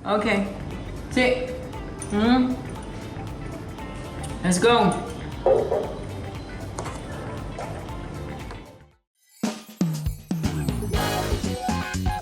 Ok. Sí. Mm. Let's go.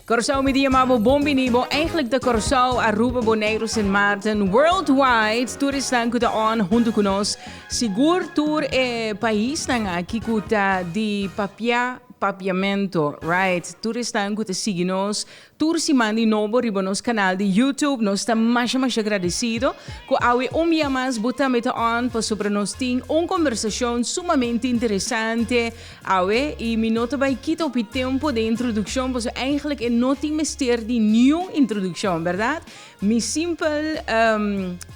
Curaçao Media Mabo Bombini Bo eigenlijk de Curaçao, Aruba, Bonaire, Sint Maarten Worldwide Toeristan ku ta on hunto ku nos Sigur tur e paisnan aki ku ta di papia papiamento Right Toeristan ku ta sigi nos Tur siman di nobo riba nos kanal di YouTube. Nos ta masha masha gradesido ku awe un bia mas bo tambe ta on pasobra nos tin un kombersashon sumamente interesante awe i mi no ta bai kita hopi tempu den introdukshon pasobra eihglik e no tin mester di niun introdukshon, bèrdat? Mi simpel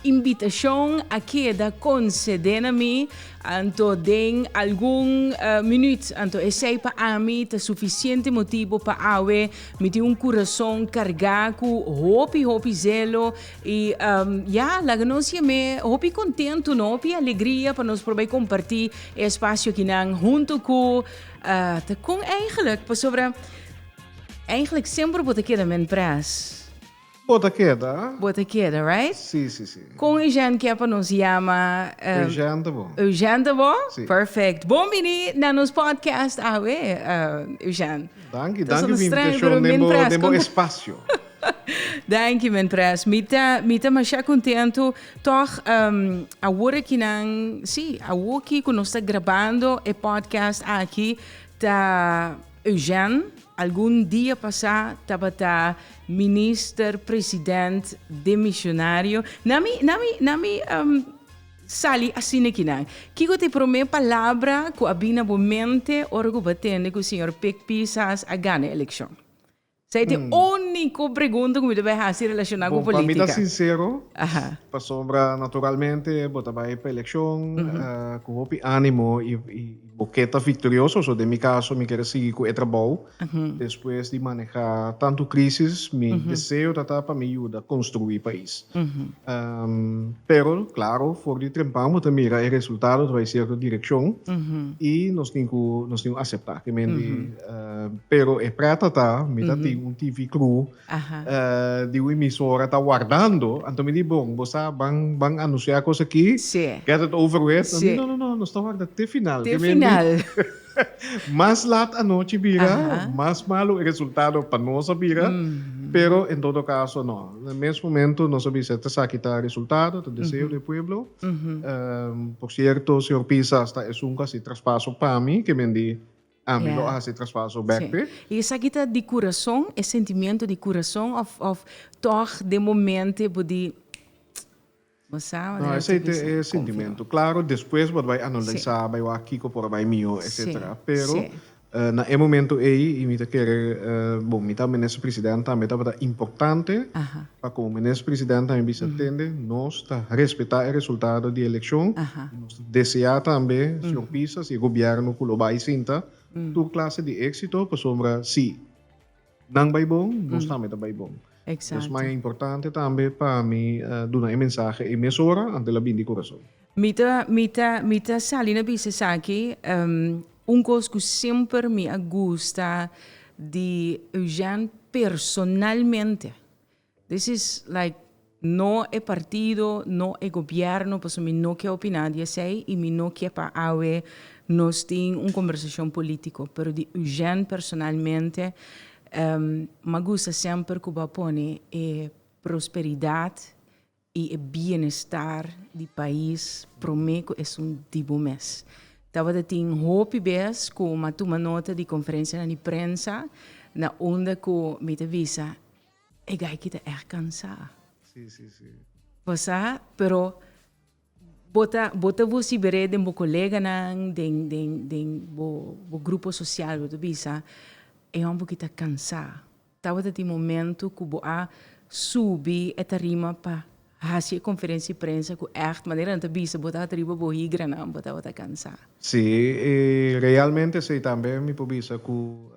imbitashon a keda konsede na mi anto den algun minüt anto esei pa ami ta sufisiente motibu pa awe Mi tin un kurason kargá ku hopi hopi zelo i um, ya, laga nos siem'e hopi kontentu no, hopi alegria pa nos probai kompartí e espasio akinan huntu ku uh, ta kon, eigentlik, pasobra eigentlik semper bo ta keda men pres. Bo ta keda a? Bo ta keda, right? Sí, sí, sí. Con e jènt kia pa nos yama? Eugènte bo. Eugènte bo? Sí. Perfect. Bon bini na nos podcast awe, Eugènte. Danki, danki for invitacion den bo, den bo espacio. Danki, men pres. Mi ta, mi ta masha contento. Tog, awor aki nan, sí, awoki cu nos ta grabando e podcast aki, ta. Eugène, algun dia pasá tabata minister president demishonario. Na mi, na mi, na mi sali asina aki nan. Kiko ta e promé palabra ku a bini na bo mente ora ku bo atende ku señor Pik Pisas a gana e elekshon? Sa e ta e úniko pregunta ku mi ta bai hasi relashoná ku polítika? Bon, pa mi ta sinsero, pasobra naturalmente bo ta bai pa elekshon ku hopi ánimo i bo ke ta viktorioso. So den mi kaso mi kere sigui ku e trabou. Despues di manehá tantu krísis mi deseo ta ta pa mi yuda konstruí pais. Pero klaro for di trempan bo ta mira e resultado ta bai sierto direkshon i nos tin ku aseptá. pero e prata ta mi ta tin un TV kru di un emisora ta wardando anto mi di bo bo sa ban ban anusia kos aki get it over with mi no no no nos ta warda te final te final mas lat anochi bira mas malo e resultado pa nos a bira pero en todo caso no na mes momento nos a bisa esaki ta e resultado ta deseo di e pueblo por cierto señor Pisa asta esun casi traspaso pa mi kimen di Mi lo a hasi traspaso bek pe. I esaki ta di kurason, e sentimiento di kurason of of tog den momento e bo di bo sa manera No, esei ta esei e sentimento. Claro despues bo ta bai analisá, bai wak kiko por a bai mihó, etcetera. Pero na e momento ei i mi ta kere bon mi ta menester presidente tambe tabata importante pa como Minister President tambe bisa tende, nos ta respeta e resultado di eleccion y nos ta desea tambe, Señor Pisa, si e Gobierno cu lo bay sinta, tur clase di exito, pasobra si nan bay bon, nos tambe ta bay bon. Exacto. Dios maya importante tambe pa mi duna e mensahe ey mes ora antes la bin di curason. Mi ta mi ta mi ta sali na bisa esaki em un cos cu semper mi a gusta di Eugène personalmente this is like no e partido no e gobierno pasobra mi no ke opina di esey y mi no ke pa awe nos tin un conversacion politico pero di Eugène personalmente em mi a gusta semper cu bo a pone e prosperidad y e bienestar di pais prome cu esun di bo mes. Tabata tin hopi bes cu mi a tuma nota di conferencianan di prensa na unda cu mi ta bisa e gayki ta echt cansa. Sí, sí, sí. Pasa, pero bo ta bo ta vociber'é den bo coleganan, den den den bo bo grupo social, bo ta bisa e homberki ta cansa. Tabata tin momento cu bo a subi e tarima pa haci e conferencia di prensa cu echt manera nan ta bisa bo tabata riba bo higranan, bo tabata cansa. Sí, y realmente esey tambe mi por bisa cu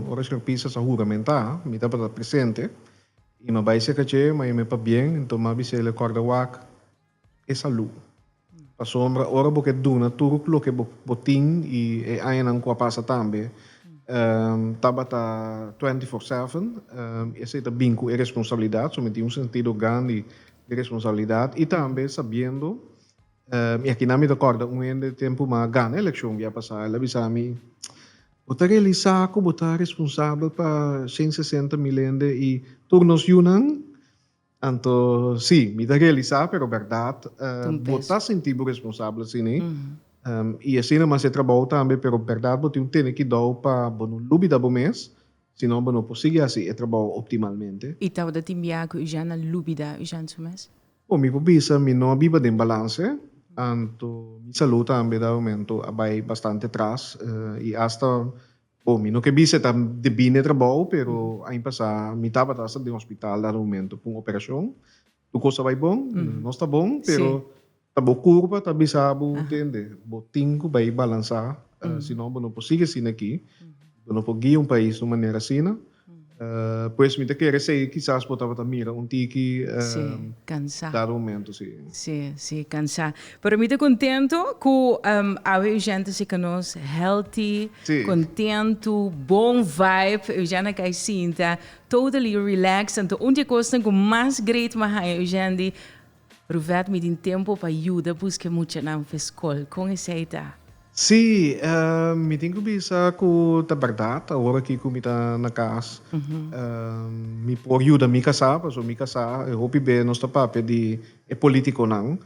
ora Señor Pisas a huramenta, mi tabata presente y mi a bay cerca dje, ma e me papbien, enton mi a bisa el e corda wak. e salú. Pasobra ora bo ke duna tur loke bo bo tin i e añanan ku a pasa tambe um tabata twenty four seven um esei ta bin ku e responsabilidat so mi tin un sentido grandi di responsabilidat i tambe sabiendo um i akina mi ta kòrda un hende tempu mas gana elekshon bia pasá el a bisa mi bo ta realisá ku bo ta responsabel pa shen sesenta mil hende i tur nos yunan Anto si, mi ta realisá, pero bèrdat, bo ta sintí bo responsabel siní. I asina mas e trabou tambe, pero bèrdat bo tin un tene kidou pa bo no lubida bo mes, sinó bo no por sigui hasi e trabou optimalmente. I tabata tin biaha ku Eugène a lubida Eugène su mes? Bo, mi por bisa mi no a biba den balanse, anto mi salú tambe dá momentu a bai bastante tras, i asta Bo mi no ke bisa e ta de bine trabou pero aña pasá mi tabata hasta den hospital dado momento pa un operacion tur cos ta bai bon nos ta bon pero ta bo curba ta bisa bo tende bo tin cu bai balansa si no bo no por sigue asina aki bo no por guia un pais de un manera asina. Pues mi ta kere sei kisas bo tabata mira un tiki dado momento si. Si, si kansa. Pero mi ta kontentu ku awe Eugène ta sika nos healthy, kontentu, bon vibe. Eugène a kai sinta totally relaxed. Anto un di e kosnan ku mas great mi a haña Eugène di Ruvet mi tin tempo pa yuda buska e muchanan fe skol. Kon esei ta? Sí, mi tin ku bisa ku ta bèrdat. Awor aki ku mi ta na kas mi por yuda mi kasá, pasobra mi kasá. E hopi be nos ta papia di e polítikonan,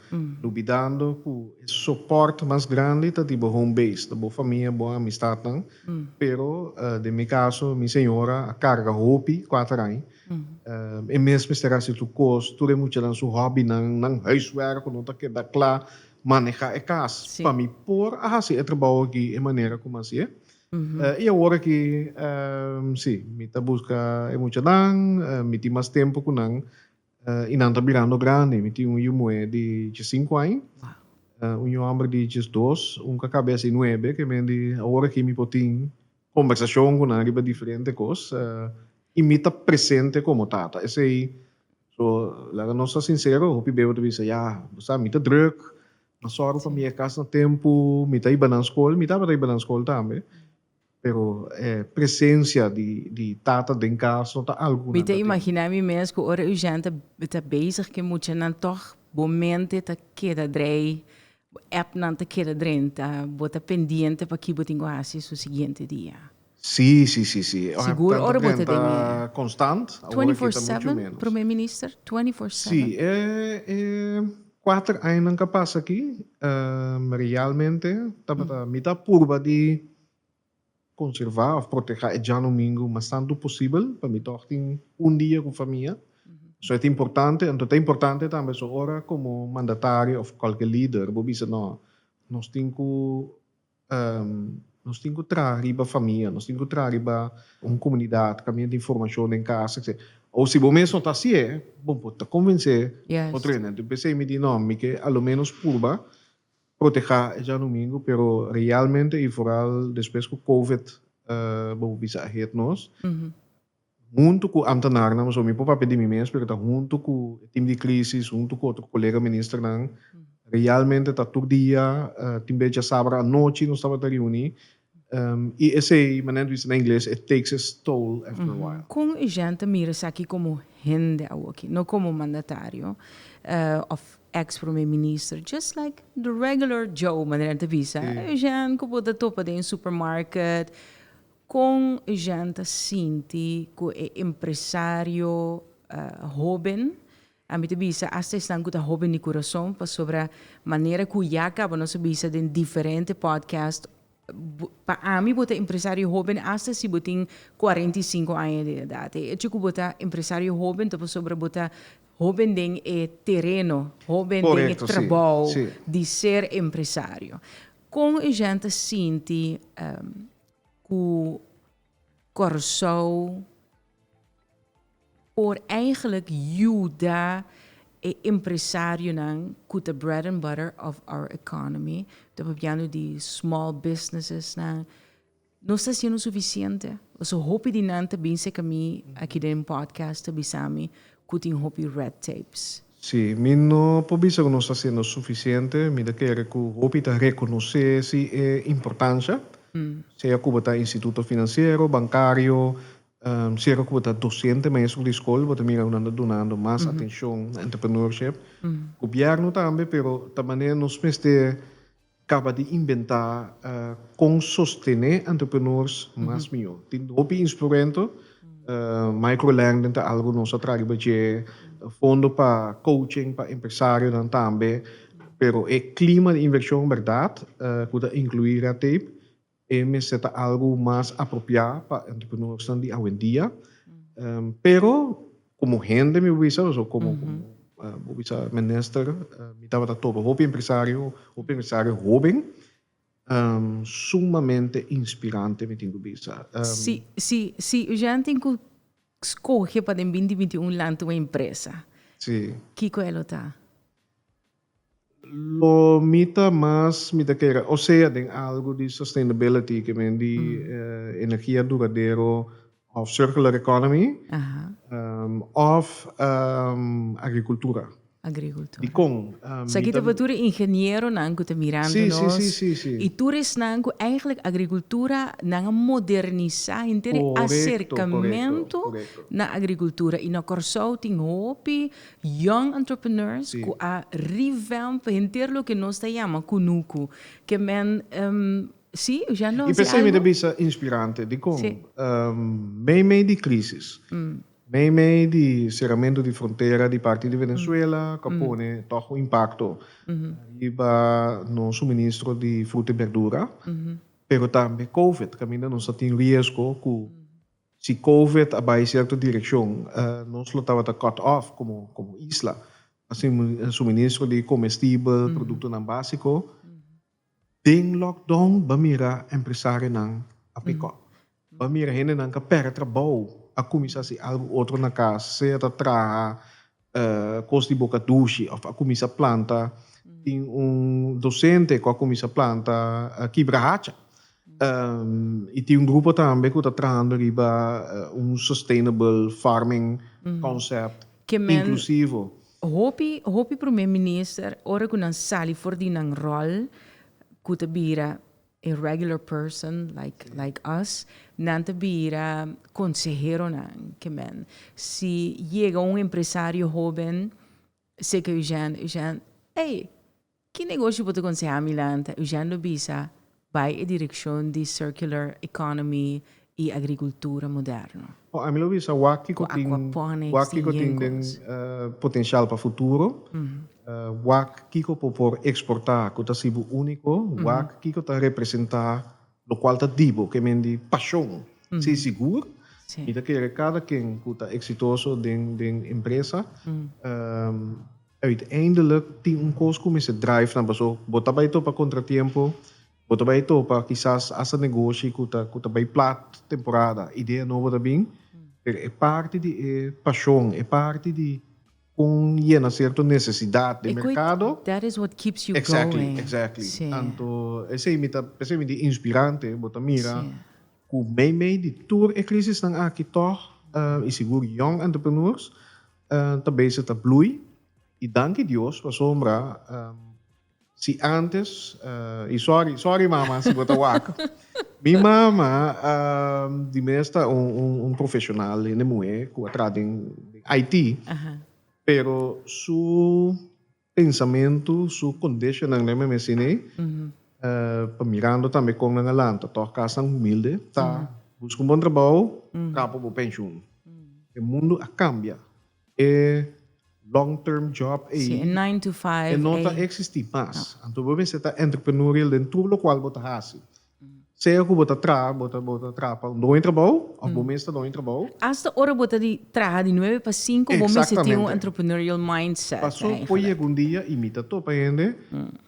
lubidando ku e sopòrt mas grandi ta di bo home base, ta bo famia, bo amistatnan. Pero den mi kaso, mi señora a karga hopi kuater aña. E mes mester hasi tur kos, tur e muchanan su hòbinan, nan huiswerk ku no ta keda kla, manehá e kas. Pa mi por a hasi e trabou akí e manera ku mi a hasi e. I awor akí, sí, mi ta buska e muchanan, mi tin mas tempu ku nan i nan ta birando grandi. Mi tin un yu muhé di diesinku aña, un yu hòmber di diesdos, un kakabes di nuebe, ke men di awor akí mi por tin Kombersashon ku nan riba diferente kos i mi ta presente komo tata. Esei so laga nos ta sinsero, hopi bebe ta bisa, Ya, bo sa mi ta drùk, nan sòru pa mi e kas na tempu, mi ta hiba nan skol, mi tabata hiba nan skol tambe, pero e presensia di tata den kas no ta algu ku nan ta tin. Mi ta imaginá mi mes ku ora Eugène ta bezig ku e muchanan tòg bo mente ta keda drei Bo app nan ta keda drenta. Bo ta pendiente pa ki bo tin ku hasi su siguiente dia. Sí, sí, sí, sí. E app Sigur ora bo ta den e. ta konstant. Awor aki ta muchu menos. Prome Minister? Sí, e e kuater añanan ku a pasa aki realmente tabata mi ta purba di conserva of protega e djano mingo mas tanto posibel pa mi tog tin un dia cu famia so e ta importante anto ta importante tambe so ora como mandatario of cualkier lider bo bisa no nos tin cu nos tin cu traha riba famia nos tin cu traha riba un comunidad ca miente informacion den casa etc o si bo mes no ta asie bo por ta convence otro hende entonces mi di no mi ke alomenos purba Protehá e djanhumingu pero realmente i foral despues ku covid bo bisa ahead nos huntu ku amtanarnan pasobra mi por papia di mi mes pero ta huntu ku e tim di krisis huntu ku otro kolega ministernan realmente ta tur dia tin bechi a sabra anochi nos tabata riuni I esei, manera nan ta bisa na ingles, it takes its toll after a while. Kon e jènt ta mira esaki komo hende awoki, no komo mandatario òf èks promé minister, just like the regular Joe, manera nan ta bisa, e jènt ku bo ta topa den e supermarket? Kon e jènt ta sinti ku e empresario hóben A mi ta bisa asta esnan ku ta hopi di kurason pasobra manera ku ya kaba nos a bisa den diferente podcast, pa ami bo ta empresario hoben asta si bo tin kuarenta i sinku aña di edat. E echo ku bo ta empresario hoben ta pasobra bo ta hoben den e tereno, hoben den e trabou di ser empresario. Kon e jènt ta sinti ku Kòrsou por eigentlik yuda e empresarionan ku ta bread and butter of our economy, ta papiando di small businessesnan. Nos ta hasiendo sufisiente? Pasobra hopi di nan ta bin serka mi aki den podcast ta bisa mi cu tin hopi red tapes. Sí, mi no por bisa cu nos ta haciendo suficiente. Mi ta kere cu hopi ta reconoce si e importancia, sea Cuba ta instituto financiero, bancario, sier Cuba ta docente maestro di school, bo ta mira cu nan ta dunando mas atencion na entrepreneurship. Gobierno tambe, pero ta manera nos mester. Caba di inventa con sostene entrepreneurs mas mijo. Tin hopi instrumento, microlending ta algo nos a traha riba dje, fondo pa coaching pa empresarionan tambe, pero e clima di inversion berdad cu ta inclui red tape, E mester ta algu mas apropiá pa entrepreneursnan di awendia. Pero komo hende mi bisa o so komo bo bisa minister mi tabata topa hopi empresario, hopi empresario hoben sumamente inspirante mi tin ku bisa. Si si si Eugène tin ku skohe pa den binti binti un lanta un empresa kiko e lo ta? Lo mi ta mas mi ta kere osea den algu di sustainability ke men di energia duradero of circular economy of agrikultura. Dikon? Sa aki ta for tur e ingenieronan ku ta mirando nos i tur esnan ku eigentlik agrikultura nan a modernisá henter e aserkamentu na agrikultura i na Kòrsou tin hopi Young entrepreneurs ku a revamp henter loke nos ta yama kunuku. Ke men si Jean Don? I p'esei mi ta bisa inspirante dikon meimei di krisis, meimei di seramentu di frontera di parti di Venezuela ku a pone tòg un impakto riba nos suministro di fruta i berdura, pero tambe Covid kaminda nos a tin riesgo ku Si Covid a bai cierto direccion, nos lo tabata cut off como como isla. Así mismo suministro di comestibel, productonan básico. Den lockdown b'a mira empresarionan a pick up. B'a mira hendenan k'a perde trabao a cuminsa haci algo otro na cas, sea ta traha kos di boka dushi of a kuminsa planta. Tin un dosente ku a kuminsa planta kibra hacha i tin un grupo tambe ku ta trahando riba un sustainable farming concept inklusivo. Hopi hopi Prome Minister ora ku nan sali for di nan ròl ku ta bira E regular person like like us nan ta bira conseheronan ke men si yega un empresario hoben seke Eugène Eugène ey ki negoshi bo ta konseha mi lanta Eugène lo bisa bai e direkshon di circular economy y agricultura moderno. Oh, ami lo bisa wak kiko tin, wak kiko tin den potencial pa futuro, wak kiko por por exporta ku ta si bo unico, wak kiko ta representa lo cual ta di bo, ke men di pasion. Si sigur, mi ta kere cada ken ku ta exitoso den den empresa, uiteindelijk tin un kos ku mester drive nan, paso bo ta bai topa contratiempo Bo ta bai topa kisas hasta negoshi ku ta ku ta bai plat temporada, idea nobo ta bin, pero e parti di e pashon, e parti di kon yena sierto nesesidat den merkado, exactly, exactly, anto esei mi ta esei mi di inspirante, bo ta mira ku meimei di tur e krisisnan aki tòg i sigur yong entrepreneurs ta bese ta blui i danki Dios pasobra. Si antes y sorry sorry mama si bo ta wak mi mama di mes ta un profesional hende muhé ku a traha den IT pero su pensamentu su conditionnan lemme mecine ey pa mirando tambe kon nan a lanta tog kas tan humilde ta busca un bon trabou traha pa bo pensioen e mundo a cambia. E long term job ei, e nine to five ei, e no ta existi mas. Anto bo mester ta entrepreneurial den tur lokual bo ta hasi. Sea ku bo ta traha, bo ta bo ta traha pa un doño trabou of bo mes ta doño trabou. Asta ora bo ta di traha di nuebe pa sinku bo mester tin un entrepreneurial mindset eigenlijk. Paso por yega un dia i mi ta topa hende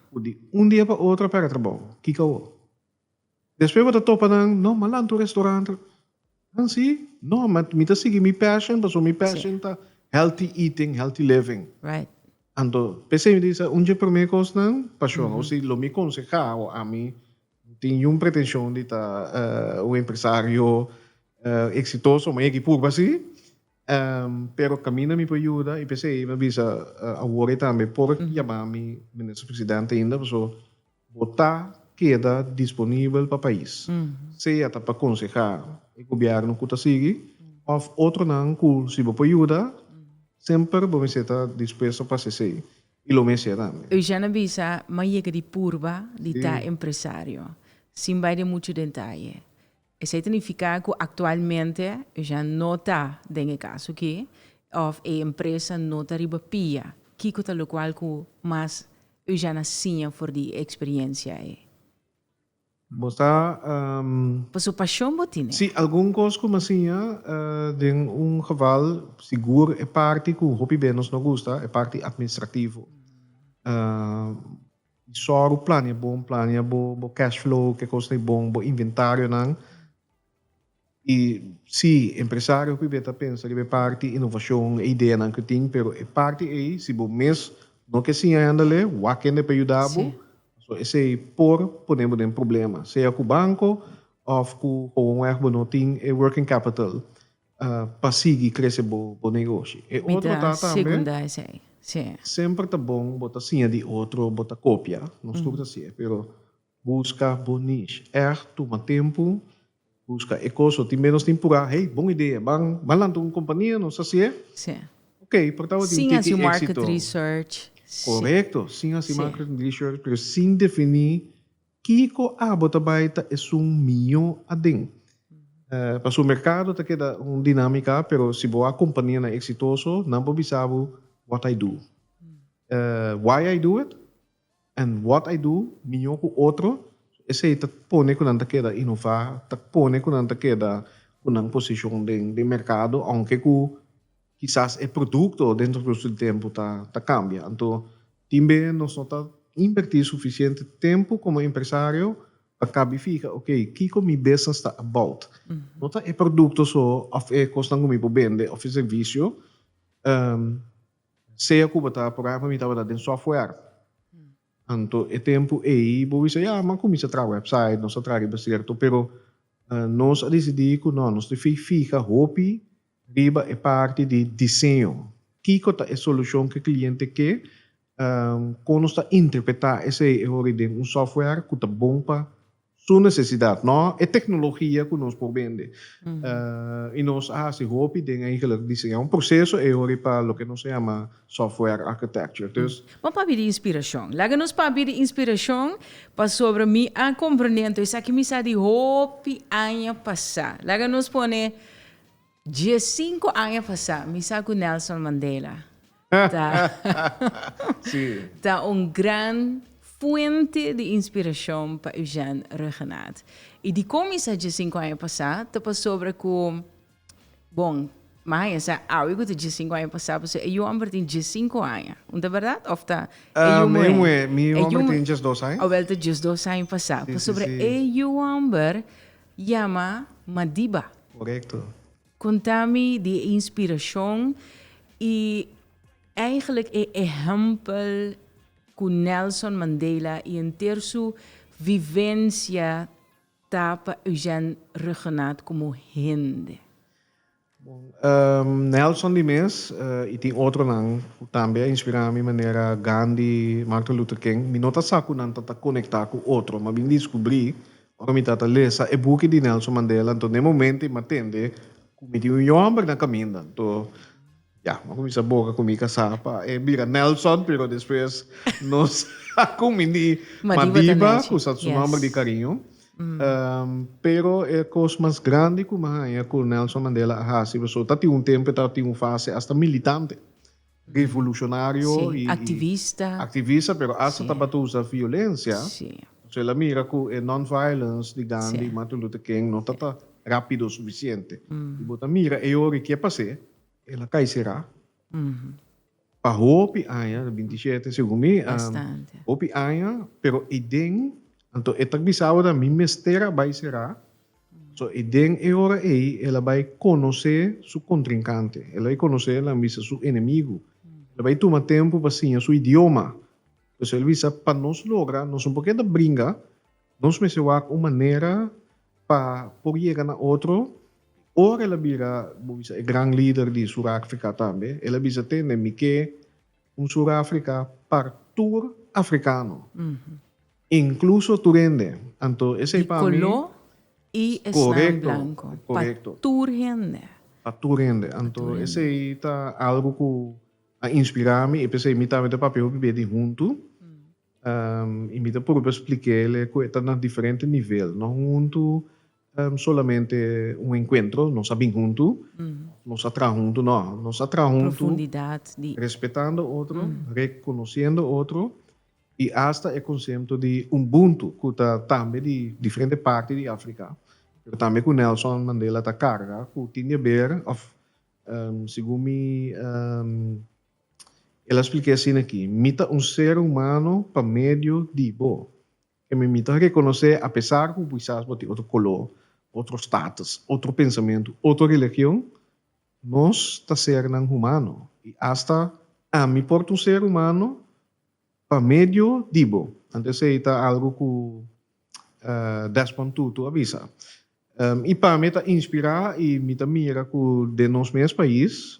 ku di un dia pa otro a pega trabou. Kiko awor? Despues bo ta topa nan no malan tur restaurant nan si no mi ta sigui mi passion pasobra mi passion ta healthy eating healthy living anto p'esei mi ta bisa un dje prome cosnan passion o si lo mi conseha o ami no tin niun pretension di ta un empresario exitoso ma yeki purba si. Pero caminda mi por yuda y p'esey mi a bisa awor ey tambe por yama mi Minister President ainda pasobra bo ta keda disponibel pa pais, sea ta pa conseha e Gobierno cu ta sigui of otronan cu si bo por yuda semper bo mester ta dispuesto pa haci esey y lo mes yera tambe. Eugène a bisa m'a yega di purba di ta empresario, sin bay den muchu dentaye. Esei ta nifiká ku aktualmente Eugène no ta den e kaso aki òf e empresa no ta riba pia. Kiko ta lokual ku mas Eugène a siña for di e eksperiensia ei? Bo ta. Paso pashon bo tin e. Si, algun kos ku mi a siña, den un geval sigur e parti ku hopi bendo nos no gusta, e parti atministrativo. Di sor u plania bon, plania bo bo cash flow, ke kosnan i bon, bo inventarionan. I si, e empresario hopi be ta pensa riba e parti inovashon, e ideanan ke tin, pero e parti ei si bo mes no ke siña e andalé, wak hende pa yuda bo, pasobra esei por pone bo den problema, sea ku banko òf ku houwonweg bo no tin e working capital. pa sigui krese bo negoshi. E otro ta tambe, semper ta bon bo ta siña di otro, bo ta kopia, nos tur ta si'e, pero buska bo niche, ègt tuma tempu, buska e kos so tin be nos tin purá, hey, bon idea, ban lanta un kompania, nos ta si'e, ok, por tabata tin un tiki éksito. Sin hasi market research. Korekto, sin hasi market research, pero sin definí. Kiko abo ta bai ta esun miño aden? Pasobra merkado ta keda un dinamika, pero si bo a kompania nan eksitoso, nan por bisa bo, What I do, why I do it, and what I do miño ku otro, esei ta pone ku nan ta keda inová, ta pone ku nan ta keda ku nan posishon den merkado, ounke ku. kisas e produkto dentro kos di tempu ta kambia. Anto tin be nos no ta invertí sufisiente tempu komo empresario pa kabi fiha oke kiko mi business ta about. No ta e produkto so òf e kosnan ku mi por bende òf e servisio sea ku bo ta por ehèmpel mi tabata den software anto e tempu ei bo bisa ya mi a kuminsá traha website nos a traha riba sierto pero nos a disidí ku nò nos tin fiha hopi. Riba e parti di diseño, kiko ta e solucion cu e cliente ke? Con nos ta interpreta esey e hori den un software cu ta bon pa su necesidad, no e tecnologia cu nos por bende. Y nos a haci hopi den eigenlijk diseña un proceso ey hori pa loke nos a yama software architecture. Dus. Bo a papia di inspiracion. Laga nos papia di inspiracion pasobra mi a comprende anto esaki mi sa di hopi aña pasa. Laga nos pone Diescinco aña pasá mi sa cu Nelson Mandela ta ta un gran fuente di inspiracion pa Eugène Regenaert. Y dicon mi sa diescinco aña pasá ta pasobra cu, bon, mi a haña sa awe cu ta diescinco aña pasá pasobra e yu homber tin diescinco aña. Un ta berdad of ta e yu muhé? E yu muhé. Mi yu homber tin diesdos aña. Owel ta diesdos aña pasá. Pasobra e yu homber. Yama Madiba. Korekto. Konta mi di e inspirashon i eigenlik e ehèmpel ku Nelson Mandela i henter su vivensia ta pa Eugène Regenaat komo hende. Bon, Nelson di mes i tin otronan ku tambe a inspirá mi manera Gandhi, Martin Luther King. Mi no ta sa ku nan ta ta konektá ku otro, mas bien diskubrí ora mi ta ta lesa e buki di Nelson Mandela. Anto den momento i m'a tende ku mi tin un yòmber na kaminda. Anto ya, m'a kuminsá boga ku mi kasá pa e bira Nelson, pero despues nos a ku mi di Madiba, ku sa su nòmber di kariño. Pero e kos mas grandi ku mi a haña ku Nelson Mandela a hasi pasobra ta tin un tempu e tabata tin un fase hasta militante, revolucionario i activista pero hasta tabata usa violencia. Entonces el a mira ku e non-violence di Gandhi i Martin Luther King no ta ta rapido suficiente. Si bo ta mira e ora ke pas'e el a kai será. Pa hopi aña, binti shete segun mi, hopi aña, pero e den, anto e ta bisa awor, mi mester a bai será, so e den e ora ei el a bai konosé su kontrinkante, el a bai konosé, nan bisa su enemigu, el a bai tuma tempu pa siña su idioma, por eso el bisa pa nos logra, nos no por keda bringa Nos mester wak un manera pa por yega na otro. Ora el a bira, bo bisa, e gran lider di Surafrika tambe, el a bisa, Tende, mi ke un Surafrika pa tur afrikano, inkluso tur hende. Anto esei pa mi. Di koló i esnan blanko. Korekto. Pa tur hende. Pa tur hende. Anto esei ta algu ku a inspirá mi i p'esei mi tambe ta papia hopi bia di huntu. I mi ta purba spliké lé ku e ta na diferente nivel. No un huntu solamente un enkuentro, nos a bin huntu, nos a traha huntu, no. Nos a traha huntu respetando otro, rekonosiendo otro i asta e konsepto di umbuntu ku ta tambe di diferente parti di Afrika pero tambe ku Nelson Mandela ta karga ku tin di haber òf segun mi. El a splica asina aki, Mi ta un ser humano pa medio di bo. Ke mi mi ta reconoce apesar cu quizas bo tin otro color, otro status, otro pensamentu, otro religion, nos ta sernan humano y hasta ami por ta un ser humano pa medio di bo. Anto esey ta algo cu Desmond Tutu a bisa. Y pami e ta inspira y mi ta mira cu den nos mes pais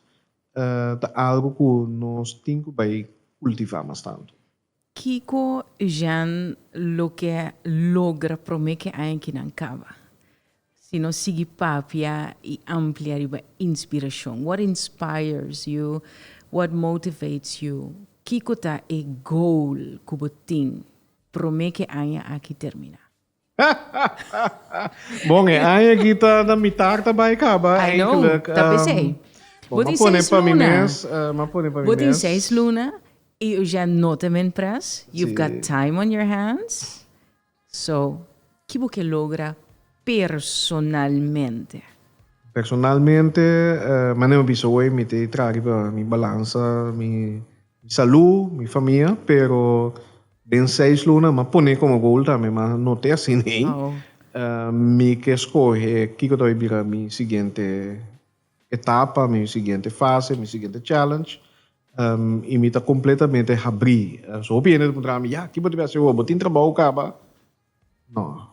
ta algu ku nos tin ku bai kultivá mas tantu? Kiko Eugène lo ke logra promé ke aña ki nan kaba? Si nos sigui papia i amplia riba inspirashon, what inspires you? What motivates you? Kiko ta e goal ku bo tin promé ke aña aki terminá? bon, e aña aki ta na mitar ta bai kaba I know, eigenlijk. ta p'esei. Um, bon, Bo ma tin pone seis pa mi luna. mes. eh, ma pone pa mi Bo tin mes. seis luna i yu ya no ta men pres. You've Sí. got time on your hands. So, ki bo ke logra personalmente? Personalmente, eh, manera mi bisa hoy, mi te tragi pa mi balansa mi Mi salú, mi famia, pero den seis luna m'a poné como goal tambe, ma no t'e así nei. Mi ke skohe kiko ta bay bira mi siguiente etapa, mi siguiente fase, mi siguiente challenge, i mi ta completamente habrí. So hopi hende ta puntra mi, ya, ki bo ta bay hasi awo? Bo tin trabou caba? No.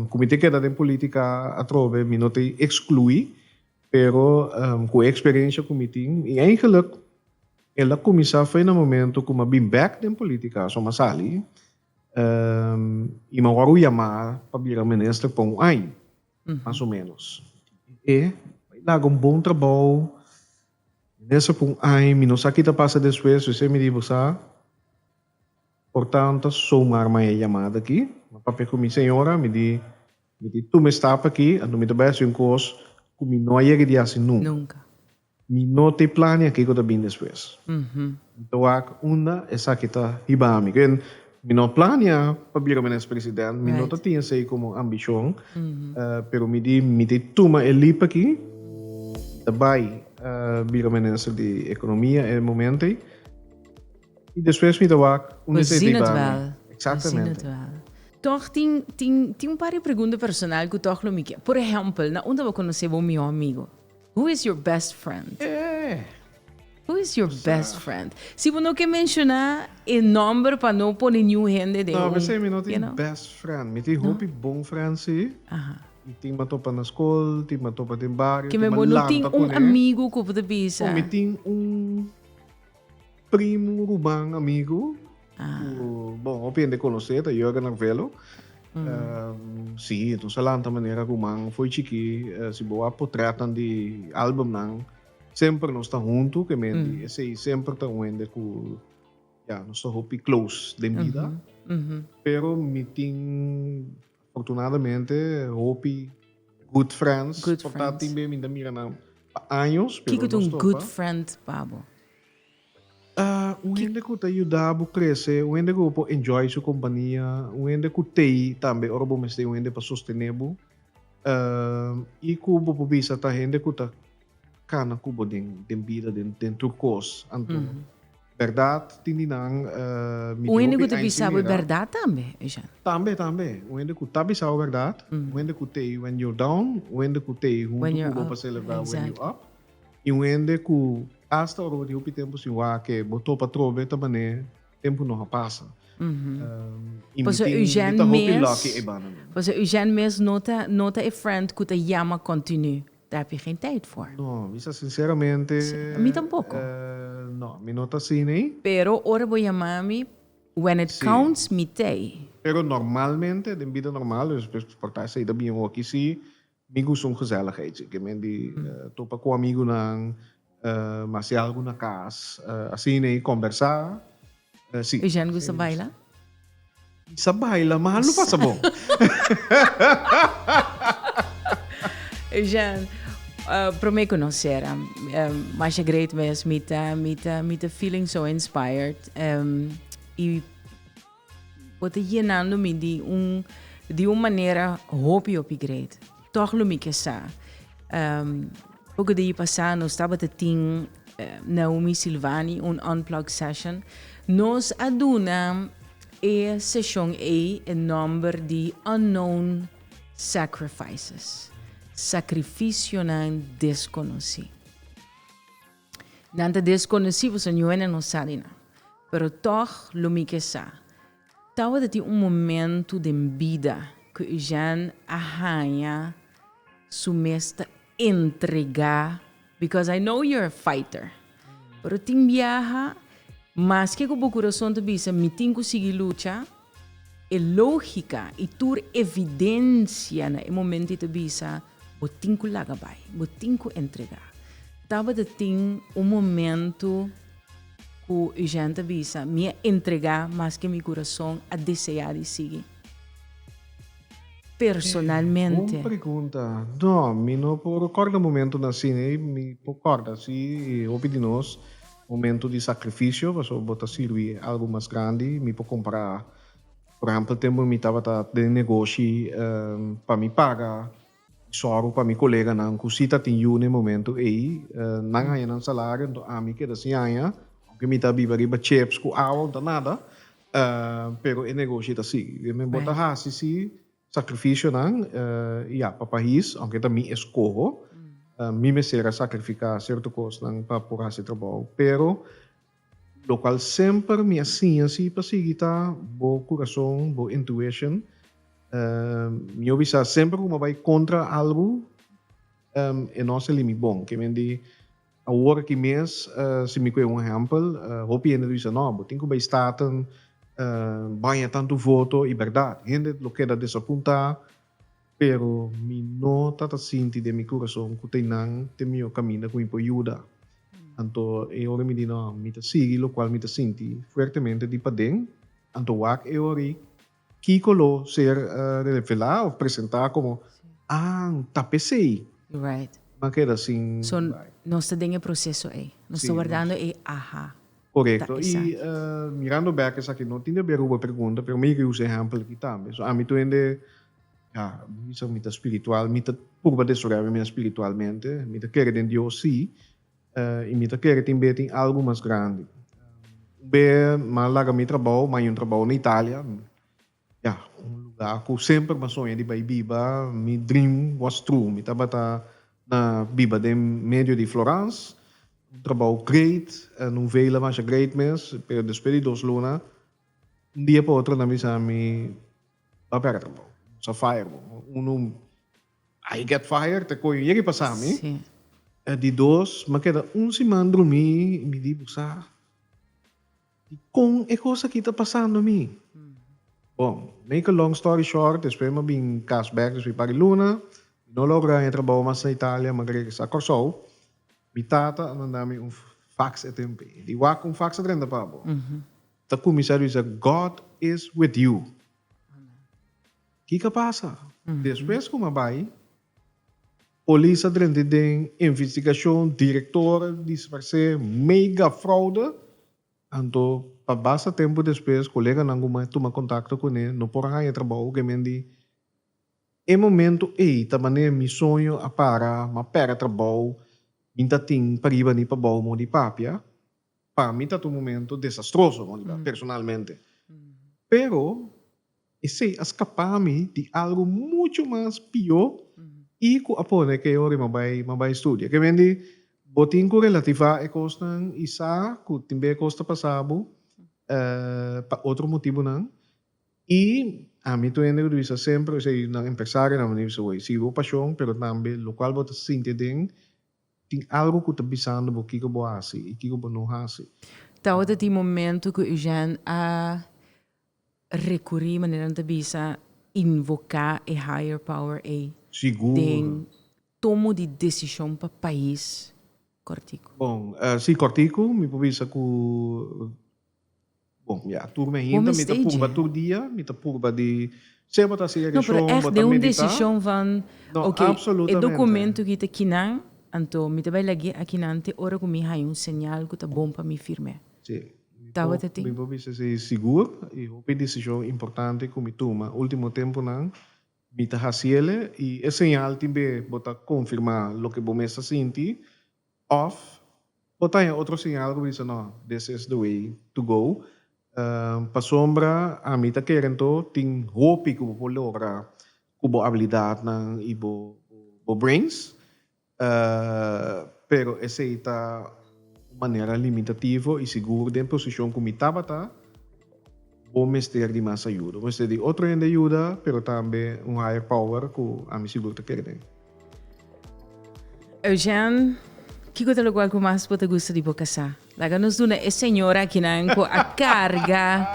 Cu mi ta keda den politica atrobe mi no ta exclui, pero cu e experiencia cu mi tin, y eigenlijk el a cuminsa fey na momento cu mi a bin bek den politica, so mi a sali y mi a worde yama pa bira minister pa un aña mas o menos. E bay laga un bon trabao, minister pa un aña, mi no sa ki ta pasa despues, p'esei mi di bo sa. Por tanta soumar maya yamada aki. Ma papia cu mi señora mi di mi tin tuma e stap aki anto mi ta bay haci un cos cu mi no a yega di haci nunca. Mi no ta e plania kico ta bin despues. Mi ta wak unda esaki ta hiba mi. Ken mi no plania pa bira menes president. Mi no ta tin esey como ambicion. Pero mi di mi ta tuma e leap aki. Mi ta bay bira menes di economia e momento ey. I despues mi ta wak unda esei ta iba mi. Exactamente. Tòg tin tin tin un par di pregunta personal ku tòg lo mi ke. Por ehèmpel, na unda bo konosé bo mihó amigu? Who is your best friend? Eh! Who is your best friend? Si bo no ke menshoná e nòmber pa no pone niun hende den un, you know. No, p'esei mi no tin best friend. Mi tin hopi bon friend sí. Aha. I tin m'a topa na skol, tin m'a topa den bario, tin m'a lanta kuné. Bo no tin un amigu ku bo ta bisa. Bon, mi tin un. Primu, ruban, amigu ku bon hopi hende konosé ta Jurgen Arvelo. Sí, nos a lanta manera ku man foi chikí. Si bo wak potrètnan di albumnan semper nos ta huntu ku e men di esei semper ta un hende ku ya nos ta hopi close den bida. Pero mi tin. Afortunadamente hopi good friends por ta tin be mi ta mira nan pa años pero nos topa. Kiko ta un good friend pa bo? Un hende ku ta yuda bo krese, un hende ku bo por enjoy su kompania, un hende ku tei tambe ora bo mester un hende pa sostene bo i ku bo por bisa ta hende ku ta kana ku bo den bida den tur kos. Berdad tin di nan mi tin hopi encimera. Un hende ku ta bisa bo e berdad tambe, Eugène? Tambe, tambe. Un hende ku ta bisa bo e berdad, un hende ku ta ei when you're down, un hende ku ta ei huntu ku bo pa selebrá when you up, i un hende ku asta ora bo tin hopi tempu sin wak, bo topa trobe ta manera tempu no a pasa. I mi tin, mi ta hopi lucky ei banda nan. Pasobra Eugène mes no ta e friend ku ta yama continu. Ta habi geen tijd voor. No, mi sa sinceramente. Sí, mi tampoco. Eh, no, mi no ta asina ei. Pero ora bo yama mi, when it counts. Sí. Mi t'ei. Pero normalmente, den bida normal, por ta esei ta bien hoki sí, mi gusta un gezelligheidje. Ke men di topa ku amigunan, Ma si algu na cas asina i combersa si. Eugène gusta baila? I sa baila ma lo pasa bon. Eugène, prome conocer masha great mes mi ta mi ta mi ta feeling so inspired i. Bo ta yenando mi di un di un manera hopi hopi great. Tòg lo mi ke sa. Um, poco di pasá nos tabata tin eh, Naomi Silvani un unplugged session. Nos a duna e seshon ei e nòmber di Unknown Sacrifices, sakrifisionan deskonosí. Nan ta desconoci, bo sa nuenan no sa di nan. Pero tog lo mi ke sa, tabata tin un momento den bida cu Eugène a haña su mes ta entrega, because I know you're a fighter. Pero tin biaha, maske cu bo curason ta bisa mi tin cu sigui lucha, E lógika i tur evidensia na e momenti ta bisa, Bo tin ku laga bai. Bo tin ku entregá. Tabata tin un momentu ku Eugène ta bisa, Mi a entregá maske mi kurason a deseá di sigui. Personalmente. Bon pregunta. No, mi no por kòrda momentunan asina i mi por kòrda si hopi di nos. Momento di sacrificio pasobra bo ta sirbi algo mas grandi mi por compra por ehempel tempo mi tabata den negoshi pa mi paga zorgo pa mi coleganan cu si ta tin yu n'e momento ey nan haya nan salario enton ami keda sin haya aunke mi ta biba riba chips cu awa unda nada pero e negoshi ta sigui den bo ta hasi si Sacrificionan i a pa pais, aunke ta mi escoho, mi mester a sacrifica cierto cosnan pa por haci trabou. Pero locual semper mi a siña si pa sigui ta bo curason, bo intuition. Mi yo bisa semper cu mi a bay contra algu e no a sali mi bon, kimendi. Awor aki mes, si mi ku e un ehèmpel, hopi hende ta bisa, No, bo tin ku bai Staten baña tantu voto. I bèrdat, hende lo keda desapuntá, pero mi no ta ta sinti den mi kurason ku ta e nan ta e mihó kaminda ku mi por yuda. Anto e ora mi di, No, mi ta sigui lokual mi ta sinti fuertemente di paden, anto wak e ora ei. Kiko lo ser revelá of presentá komo, An ta pesei. Nan keda sin bai. So, nos ta den e proseso ei. Nos ta wardando e aha. Korekto. I mirando bek esaki, no tin debia ruba pregunta, pero mi ke usa e ehèmpel aki tambe. So, ami tuende, ya, mi bisa ku mi ta spiritual, mi ta purba desoriá mi mé spiritualmente, mi ta kere den Dios, sí. I mi ta kere tin be tin algu mas grandi. Un be m'a laga mi trabou, m'a yu trabou na Italia. Ya, un lugá ku semper m'a soña di bai biba. Mi dream was true. Mi tabata na biba den medio di Florans. Un trabou great, en un vela masha great mes. Pero despues di dos luna, un dia pa otro nan bisa mi, Ba pega trabou. Nos a fire bo. Unu I get fired te koyo yegi pasa mi di dos ma keda un siman drumi y mi di busa dikon e cos aki ta pasando mi bon make a long story short despues ma bin cas back despues pari luna mi no logra haña trabao mas na Italia ma regresa Corsou mi tata a manda mi un fax e tempo ei di wak un fax ta drenta pa bo ta cuminsa di bisa God is with you Kiko a pasa? Despues ku mi a bai, polis a drenta den investigashon, direktor dispars'é, mega fraude. Anto pa basta tempu despues koleganan ku mi a tuma kontakto kuné no por haña trabou ke mi a di, E momentu ei ta manera mi soño a para, mi a pèrdè trabou, mi ta tin pa riba ni pa bou mos di papia. Pa mi tabata un momentu desastroso, mos di papia, personalmente. Pero. Esei a skapá mi di algu muchu mas pió i ku a pone ke yori m'en bai m'en bai studia. Ke men di bo tin ku relativá e kosnan i sa ku tin b'e kos ta pasá bo pa otro motibunan. I ami tu hende ku ta bisa semper ose i nan empresario nan veni bisa bo i sigui bo pashon pero tambe lokual bo ta sinti aden tin algu ku ta bisando bo kiko bo hasi i kiko bo no hasi. Tabata tin momentu ku Eugène a Recurí, manera nan ta bisa, invocá e higher power ei den tomo di decision pa pais cortico. Bon, sí cortico, mi por bisa cu, bon, ya, tur mi hinter mi ta purba tur dia, mi ta purba di ser bo ta hasi e reshon, bo ta meditá. No, pero echt den un decision van, ok, e documento aki ta kinan, anto mi ta bay lag'é aki nan te ora cu mi haña un señal cu ta bon pa mi firm'é. Sí. tabata tin. Mi por bisa si sigur i hopi desishon importante ku mi tuma último tempunan mi ta hasiele i e señal tin be bo ta konfirmá loke bo mes ta sinti òf por ta haña otro señal ku bo bisa nò this is the way to go. Pasobra ami ta kere anto tin hopi ku bo por logra ku bo abilidatnan i bo brains. Pero esei ta un manera limitativo i sigur den posishon ku mi tabata, bo mester di mas ayuda. Bo mester di otro hende ayuda, pero tambe un higher power ku ami sigur ta kere den. Eugène, Kiko ta lokual ku mas bo ta gusta di bo kasá? Laga nos duna e señor akinan ku a karga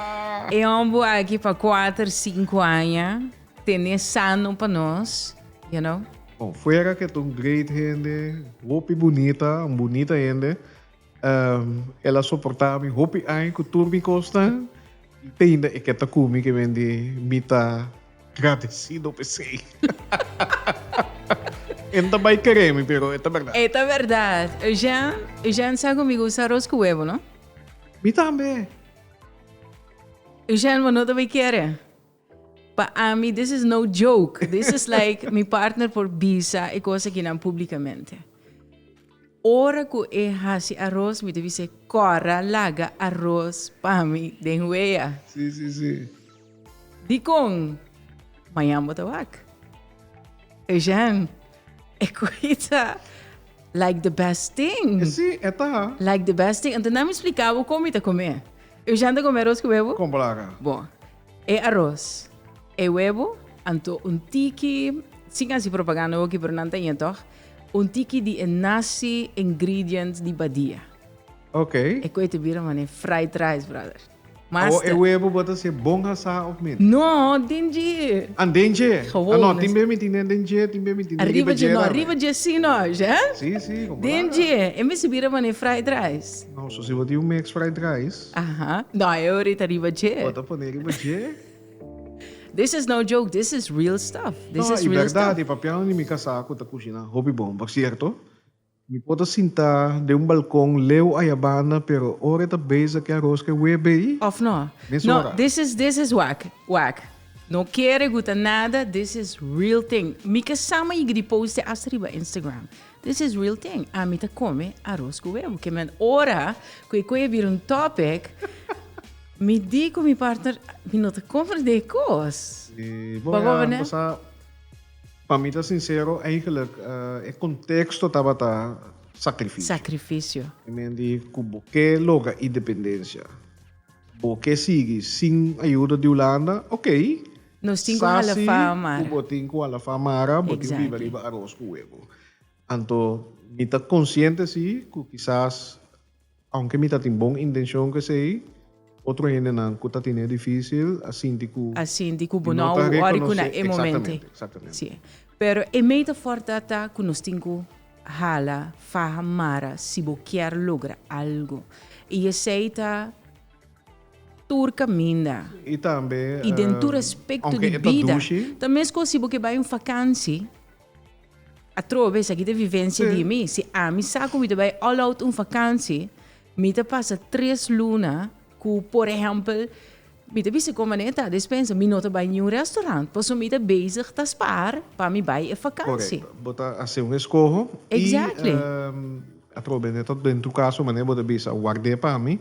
e hombu aki pa kuater, sinku aña, tené sano pa nos, you know. Bon, fuera ke ta un great hende, hopi bunita, un bunita hende, el a soportá mi hopi aña ku tur mi kosnan, Teinda e ke ta ku mi ke men di mi ta gradesido pa esei. E no ta bai kere mi pero e ta bèrdat. E ta bèrdat. Eugène, Eugène sa ku mi gusta aros ku webo, no? Mi tambe. Eugène, bo no ta bai kere? Pa ami this is no joke, this is like mi partner por bisa e cos aki nan publicamente. Ora cu e haci aros mi ta bis'e Cora laga aros pa mi den wea. Sí, sí, sí. Dicon? Mañan bo ta wak. Eugène, e cochi ta like the best thing. E sí, e ta. Like the best thing. Anto nan mi splica bo con mi ta come. Eugène ta come aros cu bebo? Con placa. Bon. E aros, e webo, anto un tiki, sin hasi propaganda oki pero nan ta iña tog, un tiki di e nasi ingredients di badia. Ok. E koe ta bira manera fried rice brother. Mas Awo e ta. webo bo ta hasi bon asá of miti? No, den dje. An den dje? Gewoon. Ah no, tin be miti nen den dje, tin be miti nen riba dje tambe. Riba dje si noche, eh? Si, si, como la. Den dje, e mester bira manera fried rice. No, so si bo tin un mix fried rice. Aha, no hay ahorita riba dje. Bo ta pone riba dje. This is no joke, this is real stuff. This no, is real verdad, stuff. E papiano di mi casa cu ta cushina hopi bon. Por cierto, mi po ta sinta den un balcon leu ayabanda, pero ora e ta beza ki aros ke webe ei. Of no? No, this is, this is wak, wak. No kere guta nada, this is real thing. Mi ke sama yigi di post e asta riba Instagram. This is real thing ami ta come aros cu webo que men ora cu e coe bira un topic mi di cu mi partner mi no ta come de e cos pa mi ta sincero eigenlijk e contexto tabata sacrificio y men di cu bo ke loga independencia bo ke sigui sin ayuda di Hulanda okay Nos tin ku hala fa Mara. Sasi ku bo tin ku hala fa Mara, bo tin biba riba aros ku webo. Anto mi ta konsiente si ku kisas aunke mi ta tin bon intenshon ku esei, otro hendenan ku ta tene e difísil a sinti ku mi no ta rekonosé eksaktamente. Eksaktamente. Pero e mei ta fòrti ata ku nos tin ku hala faha Mara si bo kier logra algu. I esei ta. tur kaminda i den tur aspekto di bida, ta mescua si bo ke bai un fakansi, atrobe esaki ta vivensia di mi, si ami sa ku mi ta bai all out un fakansi, mi ta pasa tres luna ku por ehèmpel, mi ta bisa kon manera ta despensa, mi no ta bai niun restaurant, pasobra mi ta bezig ta spaar pa mi bai e fakansi. Correcto. Bo ta hace un escoho. Exactly. Y atrobe, net als den tur caso, manera bo ta bisa, ward'é pa mi.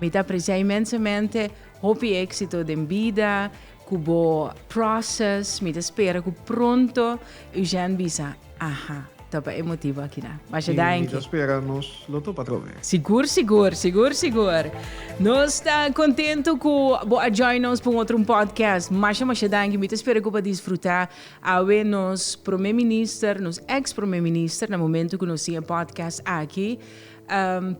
Mi ta aprecia inmensamente, hopi exito den bida cu bo process, mi ta spera cu pronto Eugène bisa, aha, ta pa e motibo akina. Masha danki. Mi ta spera nos lo topa atrobe. Sigur sigur, sigur sigur. Nos ta contento cu bo a join nos pa un otro un podcast. Masha masha danki, mi ta spera cu bo a disfruta awe nos Prome Minister, nos ex Prome Minister na momento cu nos tin e podcast aki.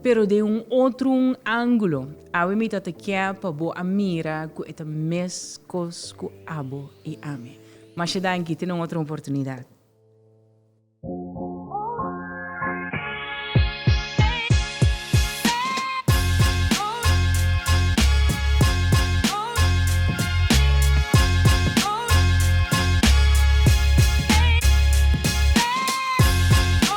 Pero den un otro angulo, awe mi ta ta ke pa bo a mira ku e ta mes kos ku abo i ami. Masha danki, tene un otro oportunidad.